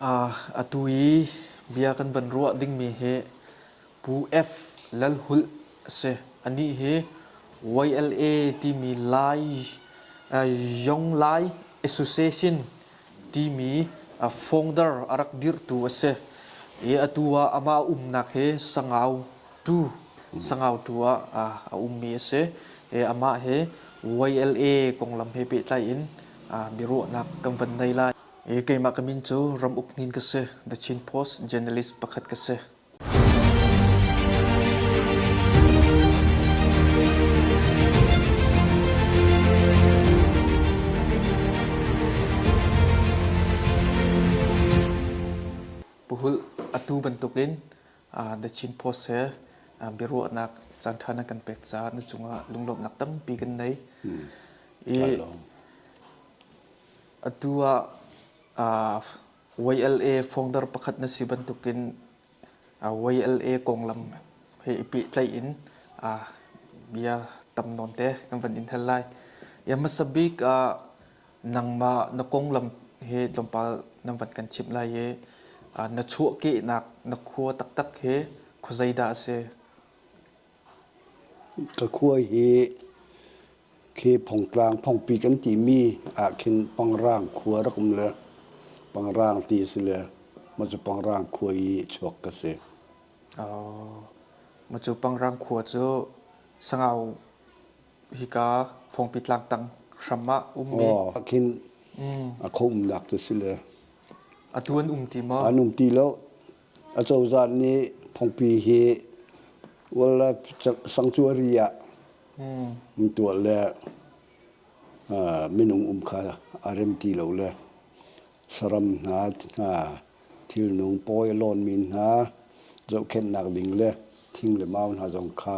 Atu i bia kan van ruah dingmi hi Pu F. Lalhulh a si. Anih hi YLA timi Lai Young Lai Association timi founder a rak dirhtu a si. I atu ah amah umnak hi Sangau tu, Sangau tu ah a ummi a si. Amah hi YLA konglam he pehtlai in biaruahnak kan van nei lai. keimah ka min cu Ram Uk Hnin ka si. The Chin Post journalist pakhat ka si. Puhul atu bantukin The Chin Post he biaruahnak caan ṭha na kan pek caah na cungah lunglawmhnak tampi kan nei. I Atu ah aa YLA founder pakhat na si bantukin aa YLA konglam he i pehtlaih in aa bia tam nawn te kan van in hal lai. Ya hmasa bik ah nangmah na konglam he tlawmpal nan van kan chimh lai i aa na chuahkehnak na khua taktak he khuazei dah a si? Ka khua hi khi Phongtlang Phongpi kan timi ah khin Pangrang khua rak um le Pangrang ti a si le mah cu Pangrang khua i chuak ka si. Mah cu Pangrang khua cu Sangau hika Phongpi tlangtang hram ah ummi ah khin a kho umnak cu a si le. Atu an um ti maw? An um ti lo. Acozah nih phungpi hi wildlife sanctuary ah an tuah le minung um kha a rem ti lo le saram hna hna thilnung pawi a lawnmi hna zohkhenhnak ding le thing le mau hna zong kha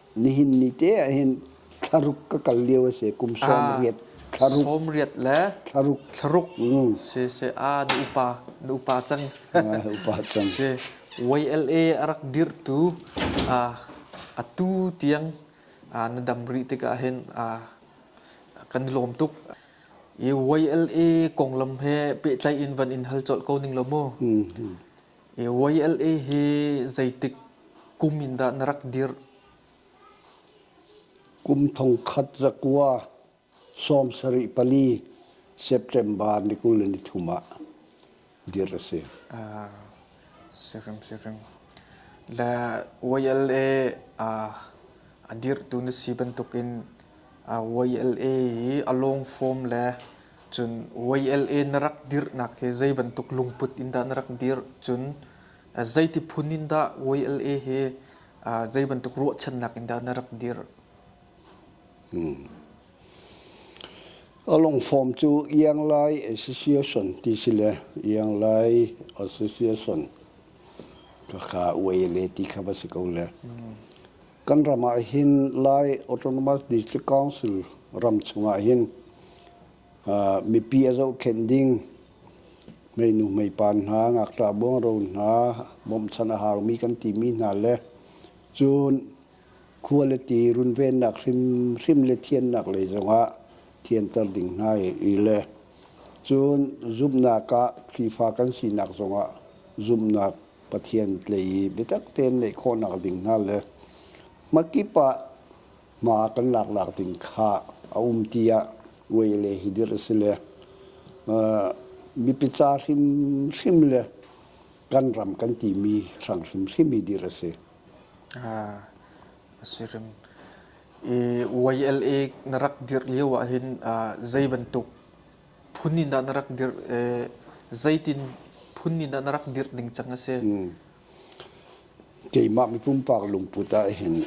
Nihin ni te ah hin thlaruk ka kal lio a si kum sawmriat thlaruk sawmriat le thlaruk thlaruk mm. si si ah na upa na upa cang ah, upa cang si YLA a rak dirhtu ah a tu tiang ah na dam rih tikah hin ah kan lawm tuk i YLA konglam he pehtlai in van in hal colh ko ning lo mu mm -hmm. YLA hi zeitik kum in dah na rak dirh? Kum thongkhat zakua sawm sarih pali September ni kul le ni thum ah dirh a si. Ah, sirim sirim. Le YLA ah a dirhtu na si bantukin ah YLA hi a long form le Cun YLA na rak dirhnak hi zei bantuk lungput in dah na rak dirh? Cun zeiti phun in dah YLA hi zei bantuk ruahchannak in dah na rak dirh? A lungfawm cu Ianglai Association ti si le Ianglai Association ka ka YLA ti kha va si ko le. Kan ram ah hin Lai Autonomous District Council ram chungah hin uh, mipi a zohkhenh ding meinu meipan hna ngakṭah bongro hna bawmchan a haumi kan timi hna le cun khua le ti runvennak hrimhrim le thiannak lei zongah thianter ding hna i le cun zumhnak ah Khrihfa kan sinak zongah zumhnak Pathian tlei i biatak tein neih khawhnak ding hna le hmakip ah hma kan laknak ding kha a um tiah uai le hidir a si le uh, mipi ca hrimhrim le kan ram kan timi hrang hrimhrim i dir a si. Ah, a si rim. I YLA na rak dir lio ah hin uh, zei bantuk phun in ah na rak dirh eh, zeitin phun in ah na rak dirh ning cang a si? Keimah mipumpak lungput ah hin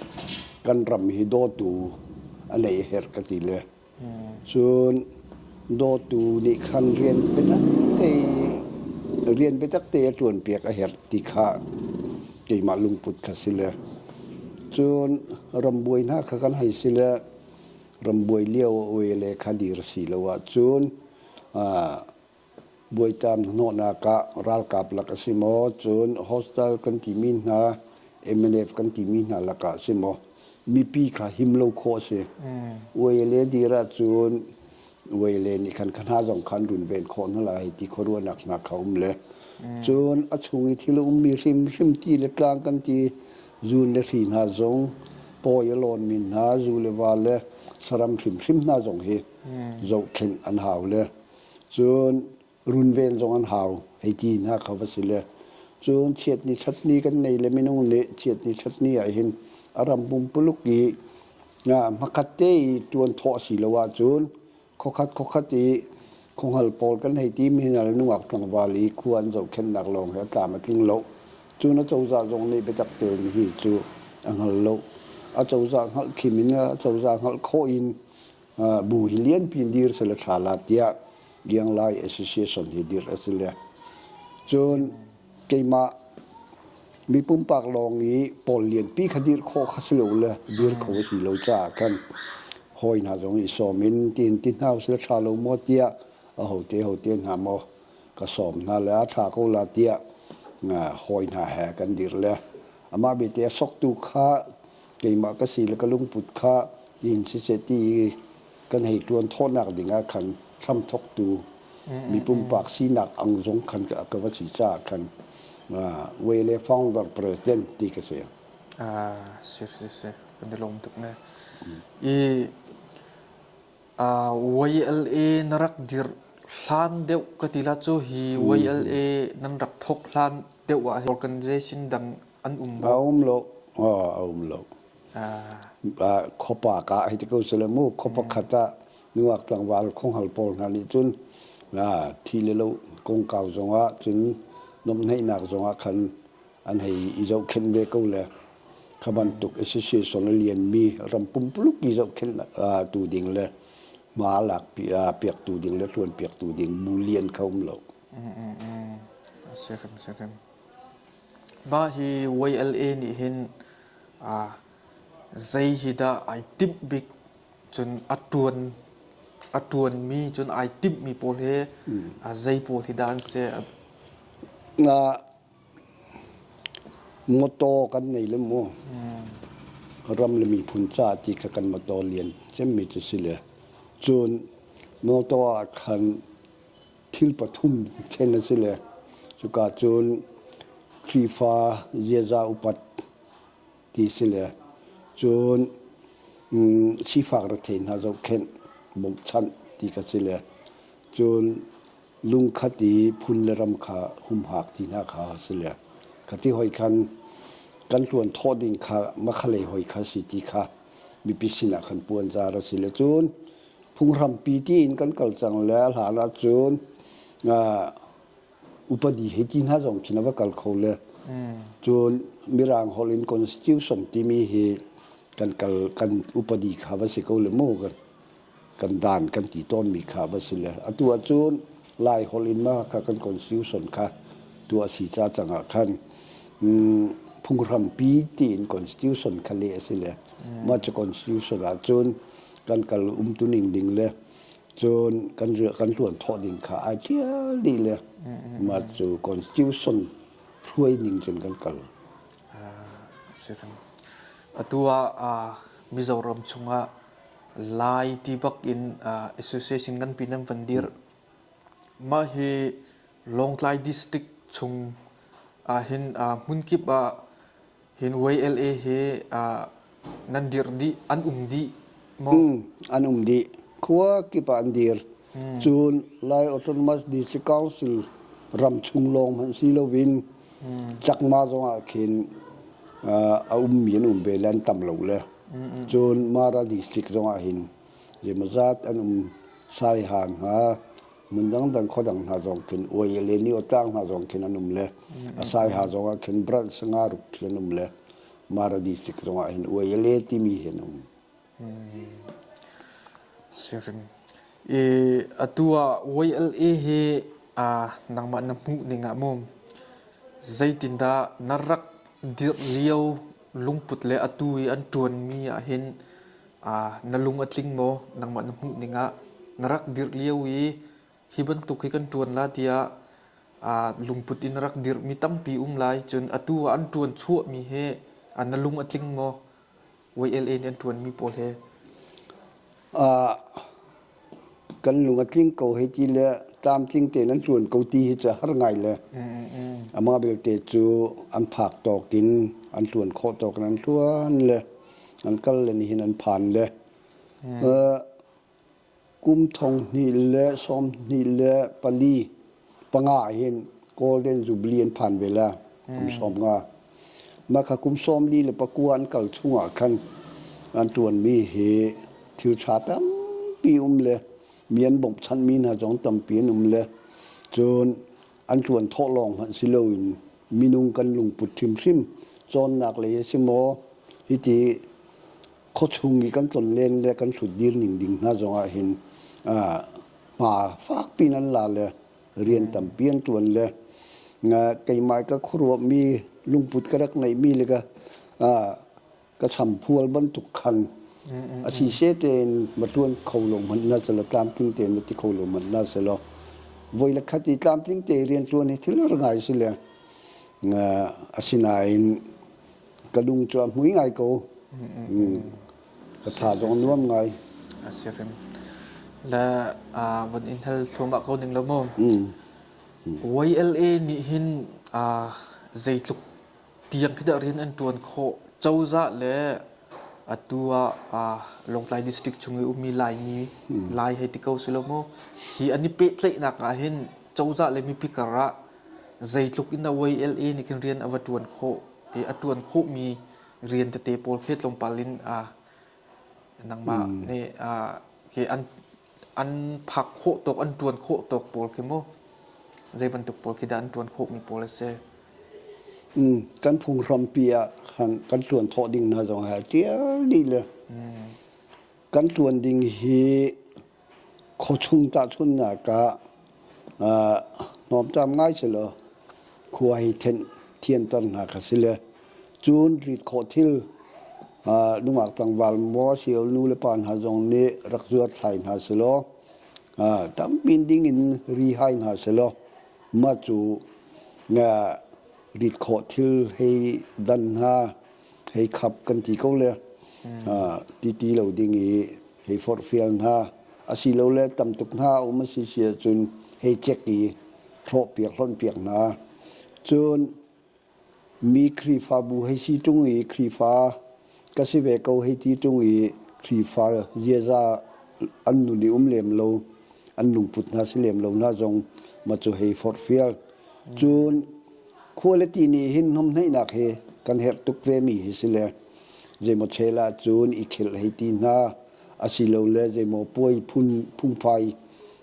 kan ram hi dawtu a nei her ka ti le. Cun dawtu nih khan rian biatak te rian biatak te a tuan piak a herh ti kha keimah lungput kha si le. Cun ram buai hna kha kan hai si le rambuai lio oe le khadir si lo ahcun buaitam hnawhnak ah ralkap lak a si maw cun hostel kan timi hna mnf kan timi hna lakah a si maw mipi kha him lo khawh a si uele dir ahcun uele nih khan khana zong khan runven khawh hna lai ti khuaruahnak hna kha um le cun a chung i thil ummi hrimhrim ti le tlang kan ti Zu le hri hna zong pawi a lawnmi hna zu le va le saram hrimhrim hna zong hi zohkhenh an hau le cun runven zong an hau hei ti hna kha va si le cun chiatni chatni kan nei le minung nih chiatni chatni ah hin a ram pumpuluk i hmakhat te i tuan thawh a si lo ahcun Khokhat khokhat i khonghal pawl kan hei ti mi hna le nungak tlangval i khua an zohkhenhnak lawng hi a tlam a tling lo. Cu na cozah zong nih biatak tein hi cu a hngal lo. A cozah hngalh khim in a cozah hngalh khawh in bu hi lianpi in dir sal a tha la tiah Liang Lai Association hi dirh a si le. Cun keimah mi pumpak lawng i pawl lianpi kha dirh khawh kha si lo le dir kho a si lo caah kan hawi hna zong i sawm in tiin ti hna usih ṭha lo maw tiah ahote hote hna maw ka sawm hna le a ṭha ko la tiah hawi hna he kan dir le amah belte a soktu kha keimah ka si le ka lungput kha tiin siseh ti i kan hei ṭuan thawhnak dingah khan hramthawktu mi pumpak sinak ang zong khan ka, ka va si caah khan Wei le founder president ti ka si. Ah, si si si, kan i lawm tuk ne. I uh, YLA na rak dir hlan deuh ka tila cu hi YLA nan rak thok hlan deuh ah organization dang an um a lo? um lo, a um lo. Khuapa ka hei ti ko sila mu, khuapa khat ah nungak tlangval khunghal pawl hna nih cun thi le lo kongkau zongah cun nuamhnaihnak zongah khan an hei i zohkhenh ve ko le kha bantuk association a lianmi ram pumpuluk i zohkhenhtu ding le hma a lak piaktu ding le ṭuanpiaktu ding bu lian kha um lo. A si hrimhrim. Mah hi YLA nih hin zei hi dah ai timh bik cun a ṭuan a ṭuanmi cun ai timhmi pawl hi zei pawl hi dah an si? Mawṭaw kan nei le maw? Ram le miphun caah ti kha kan mawṭaw lian cemmi cu a si le cun mawṭaw ah khan thil pathum thlen a si le cuka cun Khrihfa ziaza upat ti si le cun sifak rethei hna zohkhenh bokchanh ti ka si le cun lungkhat i phun le ram kha humhak ti hna kha a si le ka ti hoi khan kan tluan thawh ding kha makhalei hoi kha si ti kha mipi sinah khan puan zar a si le cun Phunghrampi tiin kan kal cang le hlan ahcun upadi hei ti hna zong khi na va kal kho le cun Mirang holh in constitution timi hi kan kal kan upadi kha va si ko le mu kan dan kan ti tawnmi kha va si le atu ahcun Lai holh in ma ka kan constitution kha tu a si ca cang ah khan phunghrampi tiin constitution kha le a si le mah cu constitution ahcun kan kal umtuning ding le cun kan kan hluanthawh ding kha ai ṭial dih le mah cu constitution hruai ning cun kan kal. Atu ah Mizoram chungah Lai ti bak in association kan pin an van dir. Mah hi Lawngtlai district chung ah hin hmun kip ah Hin YLA hi nan dirh dih an um dih maw? Mm, an um dih. Khua kip ah an dir. Mm. Cun Lai Autonomous District Council ram chung lawng hmanh si loin mm. Chakma zong ah khin a ummi an um ve le an tam lo le. Cun Mara District zong ah hin zemaw zat an um sai han ha hmun dangdang kho dang hna zong khin uai le ni otlang hna zong khin an um le a sai ha zong ah khin bral sanga ruk khi an um le mara district zong ah hin uai le timi hin um sirim i atu ah YLA hi a nangma na mu ning ah mum zeitinda na rak dir lio lungput le atu i an tuan mi ah hin na lung a tling maw nangmah na hmuh ningah na rak dirh lio i hi bantuk hi kan ṭuan la tiah lungput in a rak dirhmi tampi um lai cun atu ah an ṭuan chuahmi hi na lung a tling maw YLA nih an ṭuanmi pawl he kan lung a tling ko hei ti le tlamtling tein an ṭuan ko ti hi cu har ngai le amah belte cu an phak tawk in an ṭuan khawh tawk in an ṭuan le an kal le nihin an phan le kum thong hnih le sawm hnih le pali panga hin golden jubilee an phan ve la kum sawm nga mah kha kum sawm li le pakua an kal chung ah khan an tuan mi hi thil tha tampi um le mi an bawmhchanh mi hna zong tampi an um le cun an tuan thawh lawng hmanh si lo in minung kan lungput hrimhrim cawnnak lei a si maw hiti khuachung i kan tlon len le kan hrut dir ning ding hna zong ah hin hma fakpi in an la le rian tampi an ṭuan le keimah ka khuaruahmi lungput ka rak ngeihmi le ka ka champual bantuk khan a si she tein ma ṭuan kho lo hmanh na selaw tlamtling tein ma ti kho lo hmanh na selaw voi la khat i tlamtling te rian ṭuan hi thil har ngai si le asinain ka lung cu a hmui ngai ko ka tha zong nuam ngai a si rim la von in hal thuma ko ning lo mu YLA nih hin zeitluk tiang kita rin an tuan kho chawza le atua longtlai district chung i umi lai mi lai hei ti ko silo mu hi ani pe tlei nak ah hin chawza le mipi kara zeitluk in na YLA nih kin rian ava tuan kho i a ṭuan khawhmi rian tete pawl khi tlawmpal in aa nangmah mm. nih aa ke an an phak khawh tawk an ṭuan khawh tawk pawl khi mu zei bantuk pawl khi dah an ṭuan khawhmi pawl a si mm, kan phung hrampi ah kan tluan thawh ding hna zong a tial dih le mm. kan tluan ding hi Khuachung tahchunhnak ah hnawmtaam ngai sehlaw khua hi thianter hna kha si le cun rit khawh thil nungak tlangval maw sio nu le pa hna zong nih rak zuathlai hna sehlaw tampi ding in rihai hna sehlaw mah cu rit khawh thil hei dan hna. hei khap kan ti ko le ti ti lo ding i hei forhfial hna asilole tam tuk hna a um a si si ahcun hei chek i hlawhpiak hlonpiak hna cun mi khrifabu hei si ṭung i khrifa ka si ve ko hei ti ṭung i khrifa ziaza an nun i um lem lo an lungput hna si lem lo hna zong ma cu hei forhfial cun Quality nih hin hnawmhneihnak hi kan herh tuk ve mi hi si le zeimaw chela cun i khel hei ti hna asilole zeimaw puai phun phungphai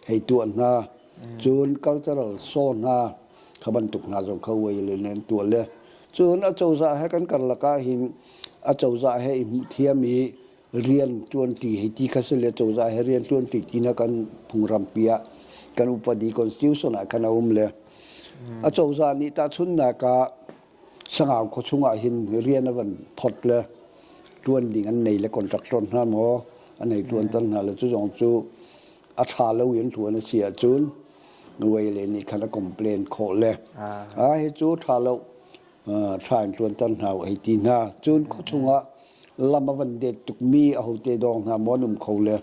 hei tuah hna cun cultural saw hna kha bantuk hna zong kha uai le len tuah le cun acozah he kan karlak ah hin acozah he i hmuh thiam i riantuanti hei ti kha si le cozah he riantuanti ti na kan phungramphi ah kan upadi constitution ah khan a um le a cozah nih tahchunnak ah sangau khaw chung ah hin rian a van phot le tuan ding an nei le contractor hna maw an ei tuan tan hna le cu zong cu a tha lo in tuan a si ahcun nuai le nih khan a complain khawh le a hi cu tha lo thla in tluanter hna u ei ti hna cun khua chungah lam a van det tukmi ahote dawng hna maw an um kho le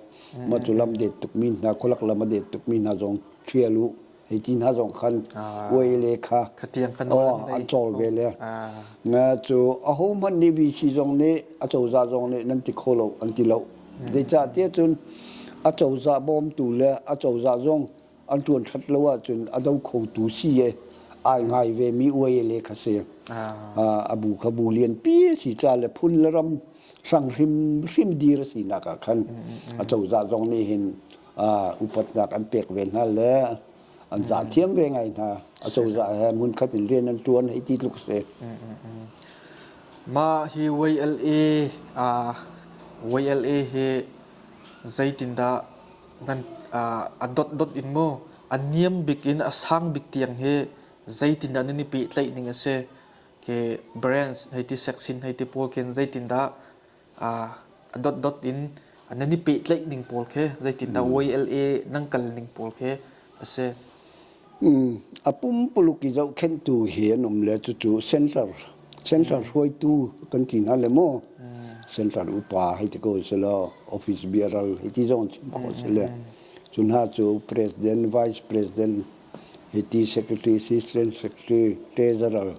maw cu lam det tukmi hna khualak lam a det tukmi hna zong ṭhial u hei ti hna zong khan uai le kha an cawl ve le nga cu aho hmanh nih vici zong nih a cozah zong nih nan ti kho lo an ti lo zeicahtiah cun a cozah bawmtu le a cozah zong an ṭuan ṭhat lo ahcun a do khotu si i ai ngai vemi uai le kha si a bu kha bu lianpi a si ca le phun le ram hrang hrim hrim dir a sinak ah khan a cozah zong nih hin upatnak an pek ve hna le an zah thiam ve ngai hna a cozah he munkhat in rian an ṭuan hei ti tluk si mah hi YLA YLA hi zeitindah nan a dotdot in maw a niam bik in a sang bik tiang hi zeitindah nan i pehtlaih ning a si ke brands hei ti sexin hei ti pawl khin zeitindah a dotdot in nan i pehtlaih ning pawl khi zeitindah mm. YLA nan kal ning pawl khi a si A pumpuluk i zohkhenhtu hi an um le cucu central central hruaitu kan ti hna le maw central upa hei ti ko si law office biaral hei ti zong chim khawh si le cu hna cu president vice president hei ti secretary assistant secretary treasurer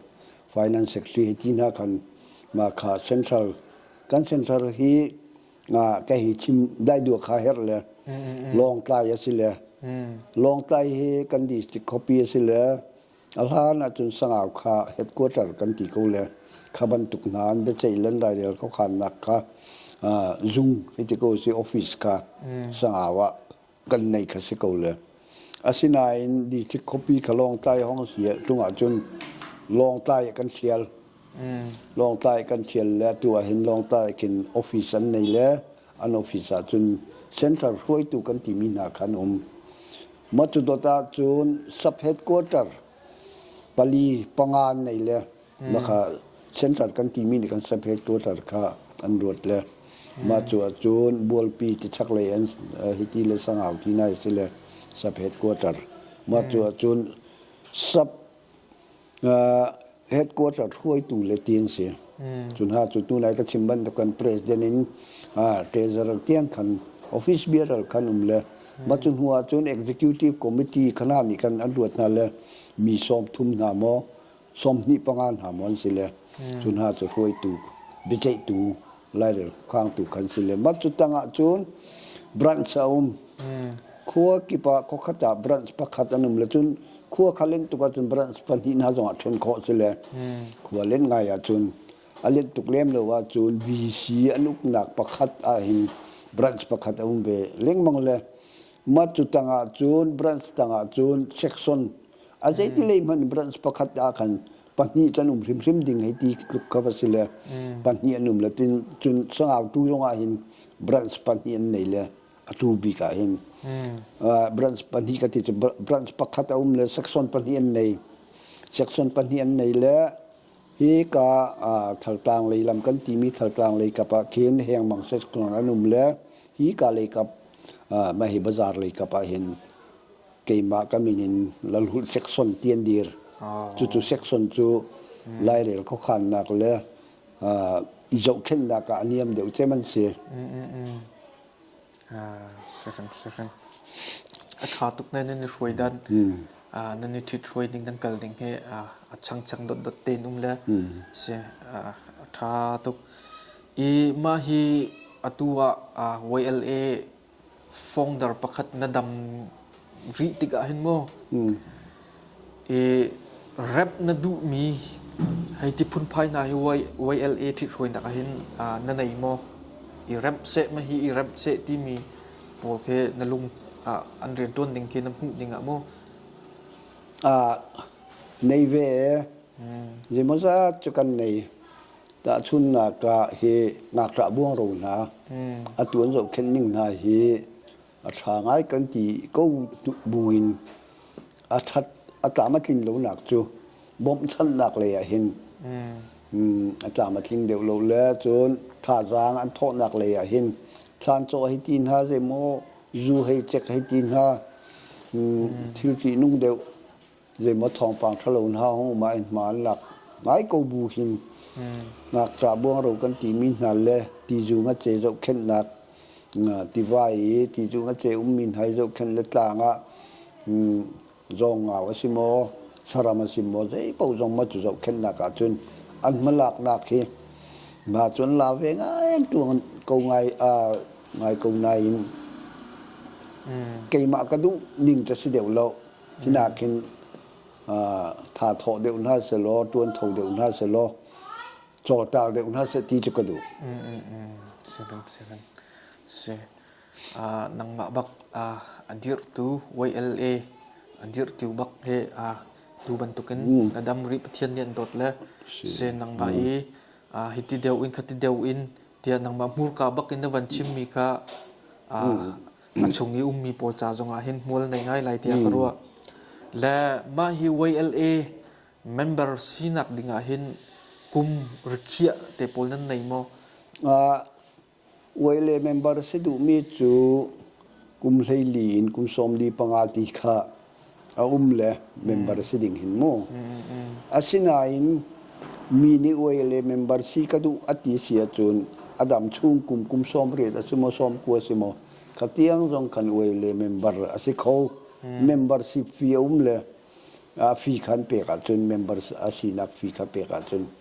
finance secretary hei ti hna khan mah kha central kan central hi na ka hi chim dai dua kha her le lawngtlai a si le lawngtlai hi kan district copy a si le a hlan ahcun sangau kha headquarter kan ti ko le kha bantuk hna an biaceih lan dai le ko khan nak kha zung hiti ko si office ka sangau ah kan neih kha si ko le asinain district khuapi kha lawngtlai hong si tung ah cun lawngtlai kan sial mm. lawngtlai kan sial le tu ah hin lawngtlai kin office an nei le an office ah cun central hruaitu kan timi hna khan um matu dot ah cun sub headquarter pali panga nei le Naka central kan timi nih kan samphel tuatar kha an ruat le mah cu ahcun bualpi ti chaklei an hiti le sangau ti nai si le saphet quarter mah cu ahcun sap headquarter hruaitu le ti an si cu hna cu tu nai ka chim bantuk kan president in treasurer tiang khan office biaral khan um le mah cu hnu ahcun executive committee khana nih khan an ruat hna le mi sawm thum hna maw sawmhnih panga hna maw an si le cu hna cu hruaitu biaceihtu lairel khuakhangtu kan si le mat cu tangah cun branch a um khua kip ah khokhat ah branch pakhat an um le cun khua kha len tuk ahcun branch pahnih hna zongah ṭhen khawh si le khua len ngai ahcun a let tuk lem lo ahcun VC an uknak pakhat ah hin branch pakhat a um ve lengmang le Mah cu tangah cun branch tangah cun section a zeitilei hmanh branch pakhat ah khan pahnih kan um hrimhrim ding hei ti tluk kha va si le pahnih an um le tin cun sangautu zongah hin branch pahnih an nei le a tu bik ah hin branch pahnih ka ti cu branch pakhat a um le section pahnih an nei section pahnih an nei le Hika ah Thaltlang lei lam kan timi Thaltlang lei kap ah khin hengmang sekhluang an um le hika lei kap mah hi bazar lei kap ah hin keimah ka min in lalhulh sekson tian dir cucu sekson cu lairel khuakhannak le zohkhennak ah a niam deuh cem an si. A ṭha tuk na nan i hruai dan. Nan i ṭhit hruai ning nan kal ding hi a changchang dotdot tein um le si a ṭha tuk. I mah hi atu ah YLA founder pakhat na dam rih tikah hin maw i rap na duhmi hei ti phunphai hna hi YLA ṭhithruainak ah hin na nei maw? I remh seh ma hi i remh seh timi pawl khi na lung ah an rianṭuan ding khi na hmuh ding ah maw? nei ve zeimawzat cu kan nei tahchunnak ah hi ngakṭah buangro hna a ṭuan zohkhenh ning hna hi a ṭha ngai kan ti ko buin a ṭhat a tlamtlin lonak cu bawmhchanhnak lei ah hin a tlamtling deuh lo le cun thazaang an thawhnak lei ah hin thlancaw hei ti hna zeimaw zu hei cek hei ti hna thil ṭihnung deuh zeimaw thawngpang ṭhalo hna hong um ah in hma an lak. Ngai ko bu hin ngakṭah buangro kan timi hna le tizung a ce zohkhenhnak tiva i tizung a ce ummi hna i zohkhenh le tlang ah zawngau a si maw saram a si maw zeipaoh zong maw cu zohkhenhnak ah cun an hmalaknak hi ma cun la ve ngai an tuang ko ngai ngai ko nain keimah ka duh ning ca si deuh lo Hi nakin tha thawh deuh hna sehlaw, ṭuanṭho deuh hna sehlaw, cawṭar deuh hna seh ti cu ka duh. Mm, mm, mm. Siring, siring. Si. Uh, nangmah bak uh, a dirhtu YLA a dirhtu bak he uh, tu bantukin mm. na dam ri pathian nih an dawt le se nangma mm. i uh, hiti deu in khati deu in tia nangma hmurka bak in na van chimmi kha uh, mm. a chung i ummi pawl ca zongah hin hmual nei ngai lai tiah ka ruah le mah hi YLA member sinak dingah hin kum rikhiah te pawl nan nei maw uh, YLA member si duhmi cu kum hleili in kum sawmli panga ti kha a um le member si ding hin mu. Asinain mi nih uai le member si ka duh a ti si ahcun a dam chung kum kum sawm riat a si maw sawm ku a si maw ka tiang zong kan uai le member a si kho membership fee a um le a fee khan pek ahcun members a sinak fee kha pek ahcun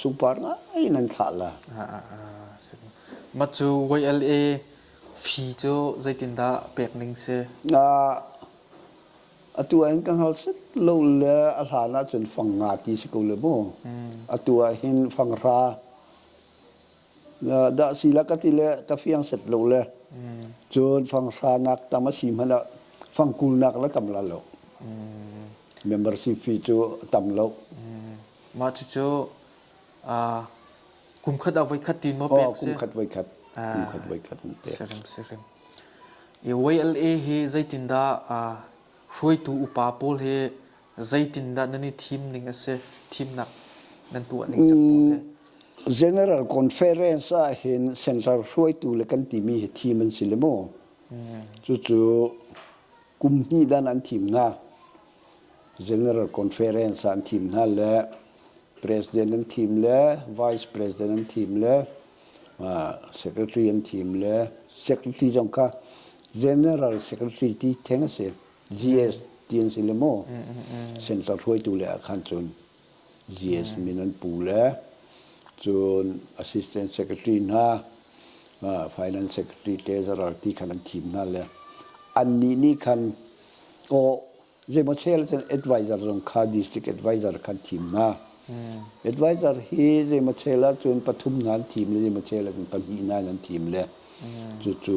sungpar ngai in an thlah la. Mah cu YLA fi cu zeitindah pek ning si? Na atu ah hin ka hngal set lo le a hlan ah cun fang nga ti si ko le mu. Atu ah hin fanghra dah si la ka ti le ka fiang set lo le cun fangsanak tam a si hmanh ah fangkulnak la tam la lo membership fee cu tam lo mah cucu kum khat a voi khat tin mo pek si kum khat voi khat kum khat voi khat an pek sirim sirim i YLA hi zeitin da hruaitu upa pawl hi Zeitindah nan i thim ning a si? Thimnak nan tuah ning cang maw hi? General Conference ahhin Central hruaitu le kan timi hi thim an si le maw? Cucu kum hnih dan an thim hna. General Conference ah an thim hna le President an thim le Vice President an thim le Secretary an thim le Secretary zong kha General Secretary ti theng a si. GS ti an si le maw sensor hruaitu le ah khan cun GS min an pu le cun assistant secretary hna finance secretary te zarar ti khan an thim hna le an nih nih khan o zeimaw chel cun advisor zong kha district advisor khan thim hna Advisor hi zeimawchel ahcun pathum hna an thim le zeimawchel ahcun pahnih hna an thim le cucu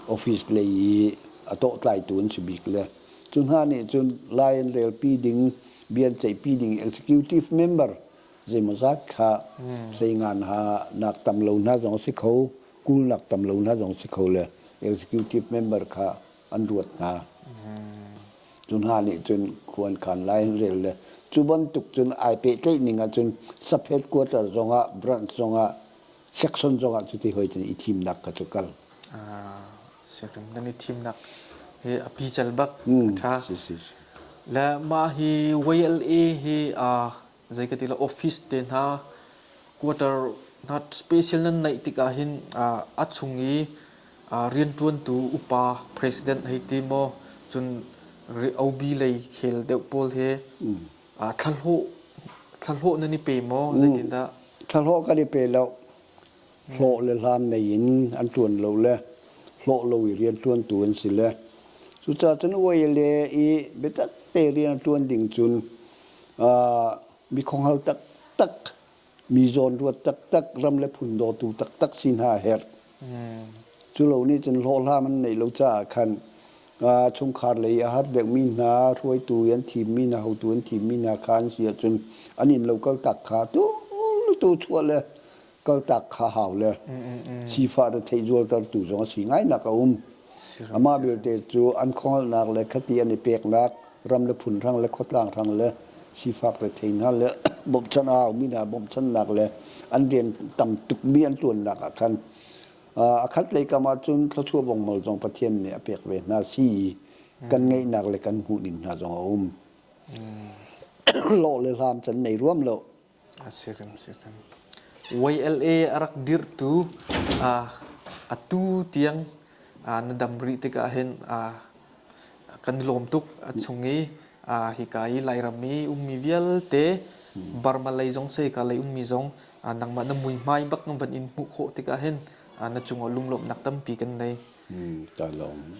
office lei i a tawhtlaitu an si bik le cu hna nih cun Lion relpi ding bian ceihpi ding executive member zeimawzat kha seingan ha nak tam lo hna zong a si kho kul nak tam lo hna zong a si kho le executive member kha an ruat hna. Cu hna nih cun khua an khan lai an rel le cu bantuk cun ai pehtlaih ning ahcun saphet quarter zongah branch zongah section zongah cuti hoitin i thimnak kha cu kal. Section kan i thimnak hi a pical bak ṭha. Le mah hi YLA hi aa zei ka ti lo office te hna quarter hna special nan neih tikah hin a chung i rianṭuantu upa president hei ti maw cun OB lei khel deuh pawl he thlahlawh thlahlawh nan i pe maw zeitindah thlahlawh kan i pe lo hlawh le hlam nei in an ṭuan lo le hlawh lo i rianṭuantu an si le cucaah cun uaile i biatak te rian ṭuan ding cun mi khuangho taktak mi zawnruat taktak ram le phun dawtu taktak si hna a herh cu lo nih cun hlawhhlam an neih lo caah khan chungkhar lei a har deuhmi hna hruaitu i an thimmi hna hotu an thimmi hna kha an si ahcun an inn lo kaltak kha tu tu chuah le kaltak kha hau le sifah na thei zualtertu zong a si ngainak a um amah belte cu an khuangalnak le khati an i peknak ram le phun rang le khuatlang rang le sifak re thei hna le bawmhchan a mi hna bawmhchannak le an rian tam tukmi an tuannak ah khan a khat lei kam ahcun thluachuah bongmal zong pathian nih a pek ve hna si kan ngeihnak le kan hmuhning hna zong a um lawh le hlam can nei ruam lo YLA a rak dirhtu atu tiang na dam rih tikah hin kan lawm tuk a chung i hika i Lairam i ummi vialte Burma lei zong Saika lei ummi zong nangmah na muihmai bak na van in hmuh khawh tikah hin na cungah lunglawmhnak tampi kan nei. Ka lawm.